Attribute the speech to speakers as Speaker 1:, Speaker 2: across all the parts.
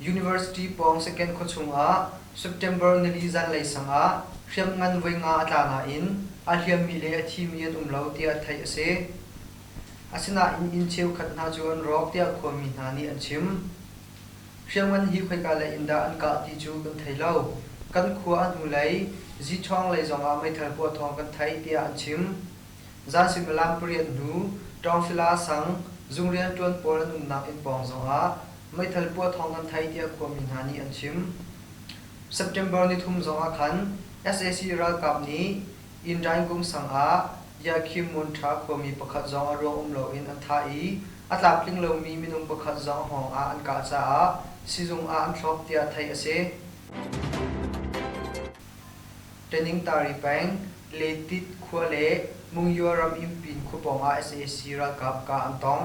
Speaker 1: University pawng second khuachung ah September nili zanlei sang ah hriamngan voi nga a tla nain a hliammi le a thimi an um lo tiah theih a si. Asinain inn cheukhat hna cu an rawk tiah khuami hna nih an chim. Hriamngan hi khoika lei in dah an kah ti cu kan thei lo. Kan khua a hnulei Ziṭhawng lei zong ah meithal puah thawng kan theih tiah an chim. Zan suimilam pariat hnu, Ṭawngfila sang, zung rianṭuan pawl an umnak inn pawng zong ah meithal puah thawng kan thei tiah khuami hna nih an chim. September nithum zong ah khan sac ralkap nih Indaing kumsang ah Yahkhim Munṭha khuami pakhat zong a ruang um loin an thah i a tlamtling lomi minung pakhat zong a hngawng ah an kah caah sizung ah an thlawp tiah theih a si. Teningtari peng Letit khua le Mungyo ram Inpin khua pawng ah sac ralkap kah an tong.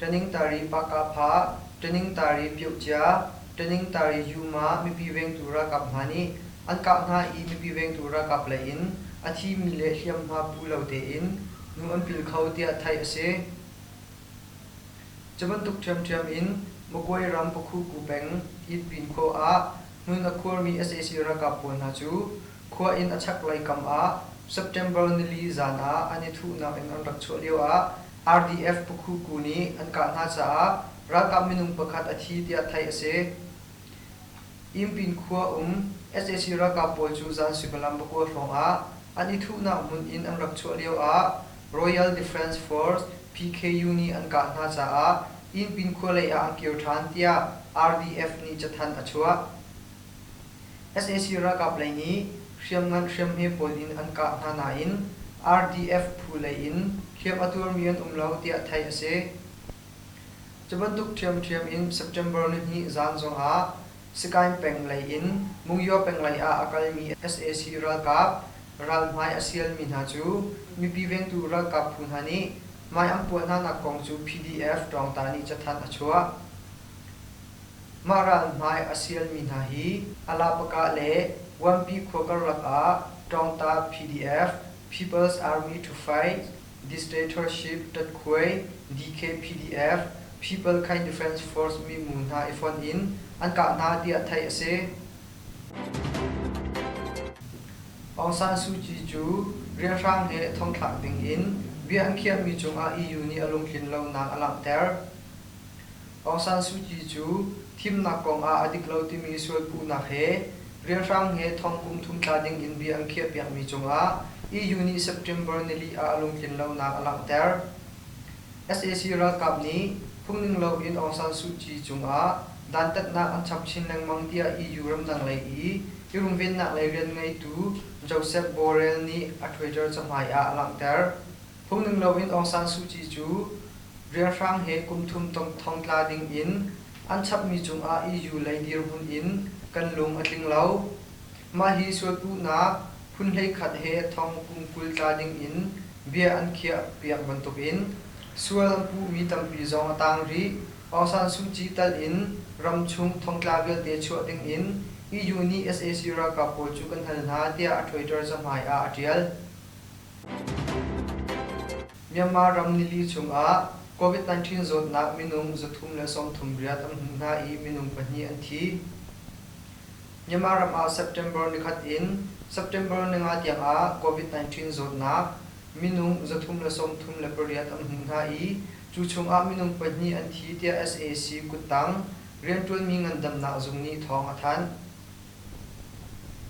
Speaker 1: Ṭaningtari Pakapha, Ṭaningtari Pyuhcia, Ṭaningtari Yuma mipi vengtu ralkap hna nih an kah hna i mipi vengtu ralkap lei in a thimi le hliamhma pu lo tein nu an pil kho tiah theih a si. Cu bantuk ṭhiamṭhiam in Magway ram Pakhuku peng Yitpin khua ah hmun a khuarmi sac ralkap pawl hna cu khua inn a chaklei kam ah September nili zan ah an i thuhnak in an rak chuah lio ah RDF Pukhuku nih an kah hna caah ralkap minung pakhat a thi tiah theih a si. Yinpin khua um sac ralkap pawl cu zan suimilam pakua hrawng ah an i thuhnak hmun in an rak chuah lio ah Royal Defence Force, PKU, nih an kah hna caah Yinpin khua lei ah an kir ṭhan tiah RDF nih cathanh a chuah. sac ralkap lei nih hriamngan hriamhme pawl in an kah hna nain RDF phu lei in hliamh a tuarmi an um lo tiah theih a si. Cu bantuk ṭhiamṭhiam in September nihnih zaan zongah Sikaing peng lei in Mungyaw peng lei ah a kalmi sac ralkap ralhmai a sialmi hna cu mipi vengtu ralkap phu hna nih hmaiang puah hnanak kong cu PDF ṭawngta nih cathanh a chuah. Mah ralhmai a sialmi hna hi Alapaka le Wampi khua karlak ah Ṭawngta PDF, People's Army to Fight, Dictatorship Tatkhuai, DK PDF, People Kind Defence Force minu hna i fonh in an kah hna tiah theih a si. Aung San Suu Kyi cu rianhrang he thongthlak ding in bia an khiahmi cungah EU nih a lungtlin lonak a langhter. Aung San Suu Kyi cu thimnak kong ah a dik lo timi sual puhnak he rianhrang he thong kum thum tla ding in bia an khiahpiakmi cungah EU nih September nili ah a lungtlin lonak a langhter. Sac ralkap nih phungning loin Aung San Suu Kyi cungah dantatnak an chap chin lengmang tiah EU ramdang lei i i runvennak lei rian ngeitu Josep Borrell nih a Twitter cahmai ah a langhter. Phungning loin Aung San Suu Kyi cu rianhrang he kum thum thongtla ding in an chapmi cungah EU lei dirhmun in kan lung a tling lo. Mah hi sualpuhnak phun hleikhat he thong kum kul tla ding in bia an khiah piak bantukin sual an puhmi tampi zong a tang rih. Aung San Suu Kyi tal in ramchung thongtla vialte chuah dingin EU nih sac ralkap pawl cu kan hal hna tiah a Twitter cahmai ah a tial. Myanmar ram nili chungah COVID-19 zawtnak minung zathum le sawmthum riat an hmuh hna i minung pahnih an thi. Myanmar ram ah September nikhat in September ninga tiangah COVID-19 zawtnak minung zathum le sawmthum le pariat an hmuh hna i cu chungah minung pahnih an thi tiah sac kuttang rianṭuanmi ngandamnak zung nih thawng a thanh.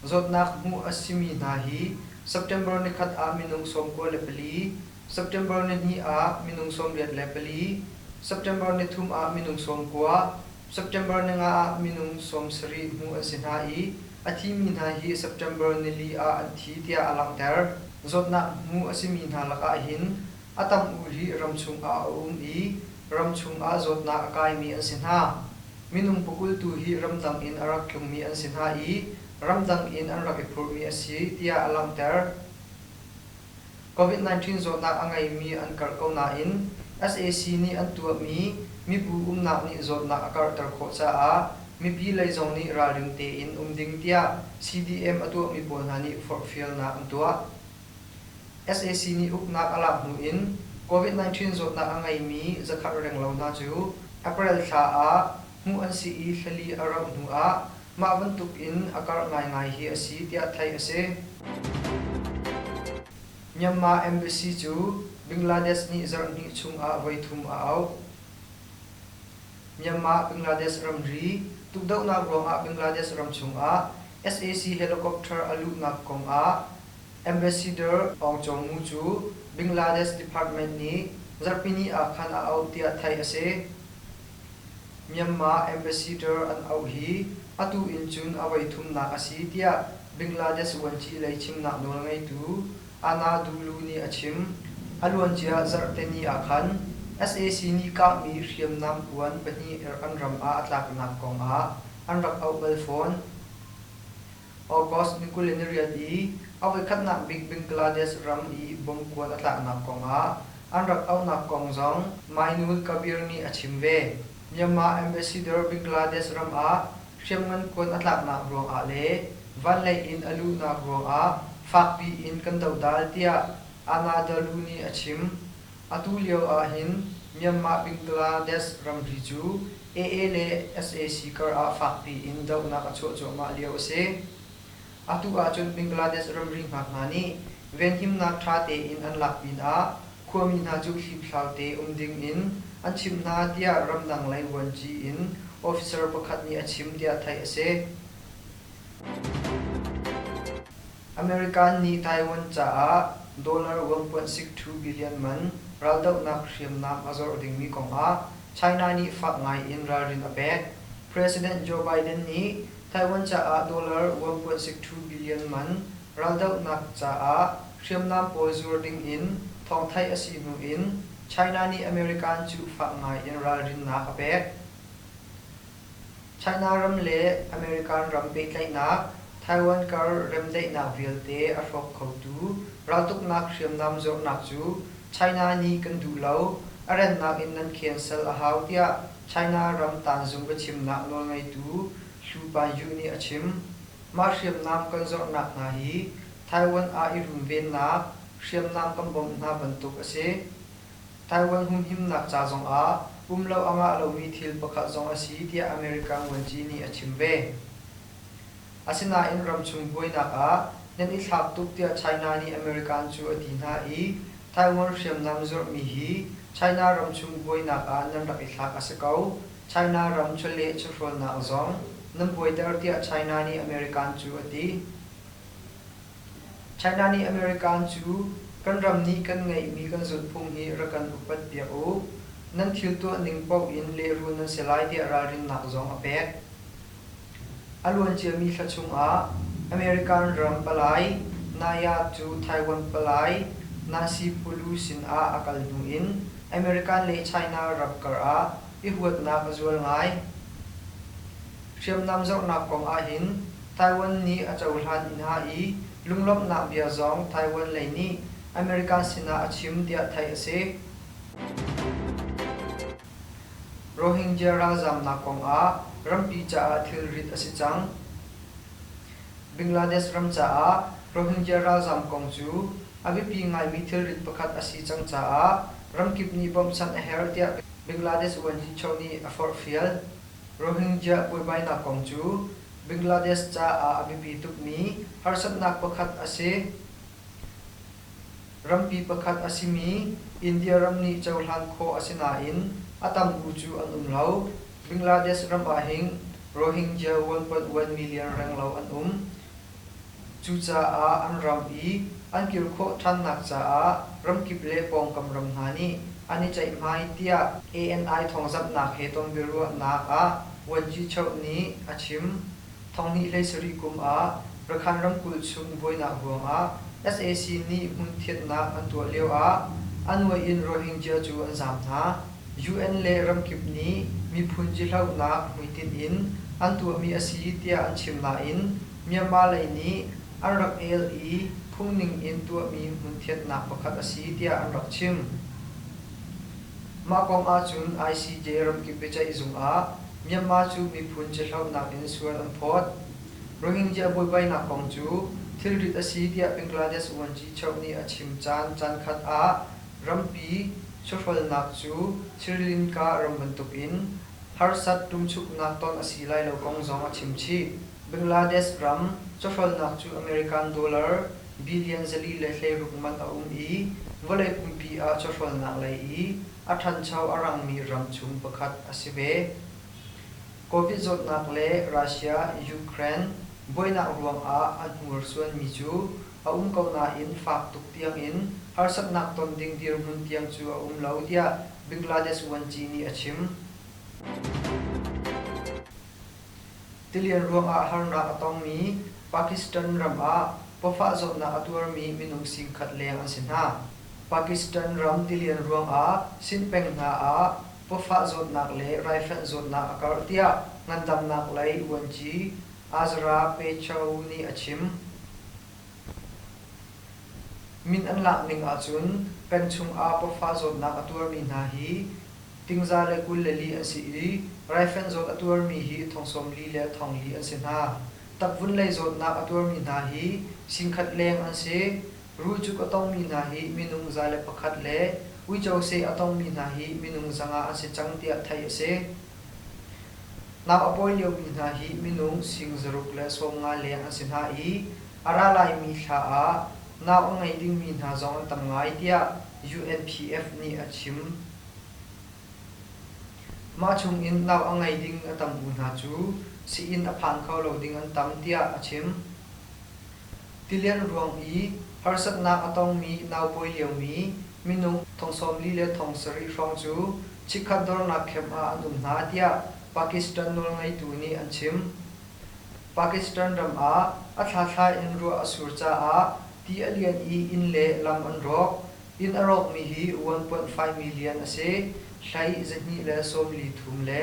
Speaker 1: Zawtnak hmuh a simi hna hi September ni khat ah minung sawmkua le pali, September ni hnih ah minung sawmriat le pali, September ni thum ah minung sawmkua, September ni nga ah minung sawmsarih hmu an si hna i a thimi hna hi September nili ah an thi tiah a langhter. Zawtnak hmu a simi hna lakah hin A tam u hi ramchung ah a um i ramchung ah zawtnak a kaimi an si hna. Minung pakulh tu hi ramdang in a rak tlungmi an si hna i ramdang in an rak i phurhmi a si tiah a langhter. Covid-19 zawtnak a ngeimi an karh ko nain sac nih an tuahmi mibu umnak nih zawtnak a karhter khawh caah mipi lei zong nih ralring tein um ding tiah CDM a tuahmi pawl hna nih forhfialnak an tuah. sac nih uknak a lak hnu in Covid-19 zawtnak a ngeimi zakhat renglo hna cu April thla ah hmuh an si i hlali a rauh hnu ah mah bantuk in a karh ngaingai hi a si tiah theih a si. Myanmar embassy cu Bangladesh nih zarhhnih chung ah voi thum a auh. Myanmar Bangladesh ramri tukdohnak ruangah Bangladesh ram chung ah sac helicopter a luhnak kong ah Ambassador Aung Kyaw Mu cu Bangladesh department nih zarhpini ah khan a auh tiah theih a si. Myanmar ambassador an auh hi atu in cun a voithumnak a si tiah Bangladesh vuanci lei chimnak nawl ngeitu Anna Dulu nih a chim. A luancia zarhteni ah khan sac nih kahmi hriamnam puan pahnih an ram ah a tlaknak kongah an rak auh bal fawn. August ni kul in a rian i a voikhatnak bik Bangladesh ram i bom kuan a tlaknak kong ah an rak auhnak kong zong Mainul Kabir nih a chim ve. Myanmar ambassador Bangladesh ram ah hriamngan kuan a tlaknak ruangah le vanlei in a luhnak ruangah fakpi in kan dodal tiah Anadalu nih a chim. Atu lio ahhin Myanmar Bingladesh ramri cu AA le sac kar ah fakpi in dohnak a chuah cuahmah lio a si. Atu ahcun Bingladesh ramri ngak hna nih venhimnak ṭha tein an lak pinah khuami hna cu hliphlau te um dingin an chimh hna tiah ramdang lei vuanci in officer pakhat nih a chim tiah theih a si. American nih Taiwan caah dollar one.six two billion man raldohnak hriamnam a zawrh dingmi kongah China nih fak ngaiin ralrin a pek. President Joe Biden nih Taiwan caah dollar one.six two billion man raldohnak caah hriamnam pawl zuar dingin thawng theih a si hnuin China nih American cu fak ngaiin ralrinnak a pek. China ram le American ram pehtlaihnak Taiwan kar remdaihnak vialte a hrawk khotu raltuknak hriamnam zornak cu China nih kan duh lo, a rennak in nan cancel a hau tiah China ram tanzung biachimnak nawlngeitu Hsu Paiyu nih a chim. Mah hriamnam kan zornak hna hi Taiwan ah i runvennak hriamnam kan bawmh hna bantuk a si. Taiwan humhimnak ca zongah um lo a ngah lomi thil pakhat zong a si tiah America Muanci nih a chim ve. Asinain ramchung buainak ah nan i thlak tuk tiah China nih American cu a ti hna i Taiwan hriamnam zorhmi hi China ramchung buainak ah nan rak i thlak a si ko. China ram chawleh chawhrawlnak zong nan buaiter tiah China nih American cu a ti. China nih American cu kan ram nih kan ngeihmi kan zulhphung hi rak kan upat piak u, nan thil tuah ning paoh in lehrul nan si lai tiah ralrinnak zong a pek. A luan ciami thla chungah American ram palai Naya cu Taiwan palai Nancy Pelosi sinah a kal hnu in American le China ram karah i huatnak a zual ngai. Hriamnam zohnak kong ahhin Taiwan nih a cohlan i hna i lunglawmhnak bia zong Taiwan lei nih America sinah a chim tiah theih a si. Rohingya ralzaamnak kongah rampi caah thilrit a si cang. Bangladesh ram caah Rohingya ralzaam kong cu a biapi ngaimi thilrit pakhat a si cang caah ramkip nih bawmh sanh a herh tiah Bangladesh uanhi chaw nih a forhfial. Rohingya buaibainak kong cu Bangladesh caah a biapi tukmi harsatnak pakhat a si. Rampi pakhat a simi India ram nih cohlan khawh a si nain a tam bu cu an um lo. Bangladesh ram ahhin Rohingya 1.1 million renglo an um. Cucaah an ram i an kir khawh ṭhannak caah ramkip le pawngkam ram hna nih an i ceihmai tiah ANI thawngzamhnak he ton biaruahnak ah Vuan Ci Cheuh nih a chim. Thawngnihlei sarih kum ah Rakhine ramkulh chung buainak ruangah sac nih hmun thianhnak an tuah lioah a nuai in Rohingya cu an zaam hna. UN le ramkip nih miphun zihlonak hmuitinh in an tuahmi a si tiah an chim nain Myanmar lei nih an rak el i phungning in tuahmi hmunthiatnak pakhat a si tiah an rak chim. Mah kong ahcun ICJ ramkip biaceihzung ah Myanmar cu miphun zihlonak in sual an phawt. Rohingya buaibainak kong cu thilrit a si tiah Bangladesh uanci cheuh nih a chim caan caankhat ah Rampi chawhrawlnak cu Sri Lanka ram bantuk in harsat ṭumchuknak ton a si lai lo kong zong a chim chih. Bangladesh ram chawhrawlnak cu American dollar billion zali le hleiruk man a um i vawlei pumpi ah chawhrawlnak lei i a ṭhancho a rangmi ram chung pakhat a si ve. Covid zawtnak le Russia, Ukraine buainak ruangah a hnursuanmi cu a um ko nain fak tuk tiangin harsatnak ton ding dirhmun tiang cu a um lo, tiah Bangladesh vuanci nih a chim. Tilian ruangah harnak a tongmi Pakistan ram ah pawfah zawtnak a tuarmi minung singkhat leng an si hna. Pakistan ram tilian ruangah Sinhpeng hna ah pawfah zawtnak le raifanh zawtnak a karh, tiah ngandamnak lei vuanci Azra Pacho nih a chim. Min an lak ning ahcun peng chungah pafa zawtnak a tuarmi hna hi tingza le kul le li an si i raifanh zawt a tuarmi hi thong sawm li le thong li an si hna. Takvun lei zawtnak a tuarmi hna hi singkhat leng an si. Rulcuk a tongmi hna hi minung za le pakhat le uico seh a tongmi hna hi minung zanga an si cang tiah theih a si. Nau a pawi liomi hna hi minung sing zaruk le sawm nga leng an si hna i a ra laimi thla ah nau a ngei dingmi hna zong an tam ngai tiah UNPF nih a chim. Mah chungin nau a ngei ding a tam u hna cu sii-inn a phan kho lo ding an tam tiah a chim. Tilian ruang i harsatnak a tongmi naupawi liomi minung thong sawm li le thong sarih hrawng cu chikkhat dornak camp ah an um hna tiah Pakistan nawlngeitu nih an chim. Pakistan ram ah a thlathlai in ruah a sur caah ti a lian i inn le lam an rawk. Inn a rawkmi hi vuanpuanh faimi lian a si, hlei zahnih le sawm li thum le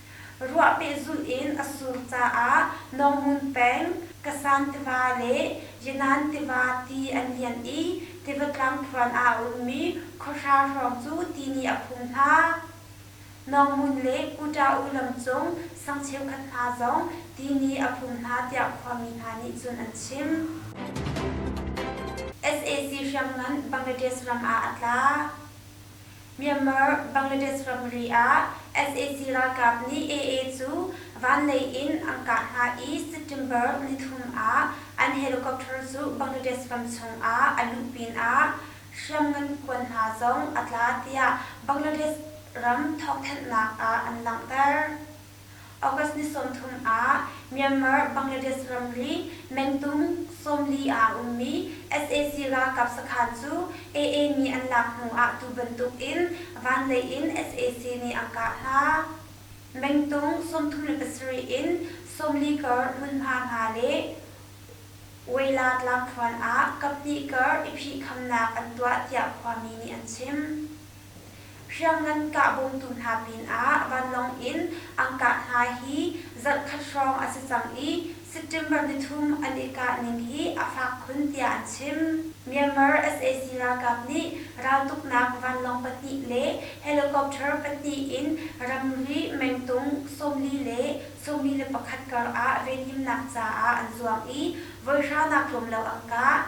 Speaker 2: Ruah pehzulh in a sur caah Nawngun peng, Kasan tiva le Yenan tiva ti an lian i tiva tlang phuan ah a ummi khuahra hrawng cu ti nih a phum hna. Nawngun le Kutaung lamcung sang cheukhat hna zong ti nih a phum hna tiah khuami hna nih cun an chim. Sac hriamngan Bangladesh ram ah a tla. Myanmar, Bangladesh ramri ah sac ralkap nih AA cu vanlei in an kah hna i September nithum ah an helicopter cu Bangladesh ram chungah a luh pinah hriamngan kuan hna zong a tla tiah Bangladesh ram thawkthanhnak ah an langhter. August ni sawmthum ah Myanmar, Bangladesh ramri mengtung sawmli ah a ummi sac ralkap sakhan cu AA mi an lak hnu ah tu bantuk in vanlei in sac nih an kah hna. Mengtung sawmthum le pasarih in sawmli kar hmunhma hna le Weila tlangkhuan ah kaphnih kar i phih khamnak an tuah tiah khuami nih an chim. Hriamngan kah bawmtu hna pinah vanlawng in an kah hna hi zarhkhat hrawng a si cang i September nithum an i kahning hi a fak khun tiah an chim. Myanmar sac ralkap nih raltuknak vanlawng pahnih le helicopter pahnih in ramri mengtung sawmli le sawmli le pakhat karah venhimnak caah an zuang i voi hranak tlawm lo an kah.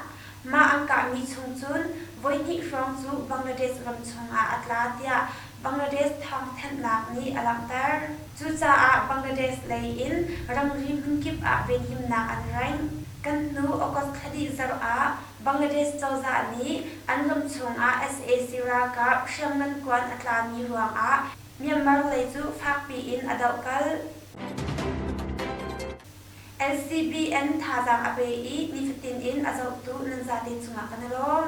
Speaker 2: Mah an kahmi chung cun voihnih hrawng cu Bangladesh ram chungah a tla tiah Bangladesh thawngthanhnak nih a langhter. Cucaah Bangladesh lei in ramri hmunkip ah venhimnak an rengh. Kan hnu August thla dih zarh ah Bangladesh cozah nih an ram chungah sac ralkap hriamngan kuan a tlami ruangah Myanmar lei cu fakpi in a doh kal. NCBN thazaang a pe i nifatin in a zohtu nan zate cungah kan i lawm.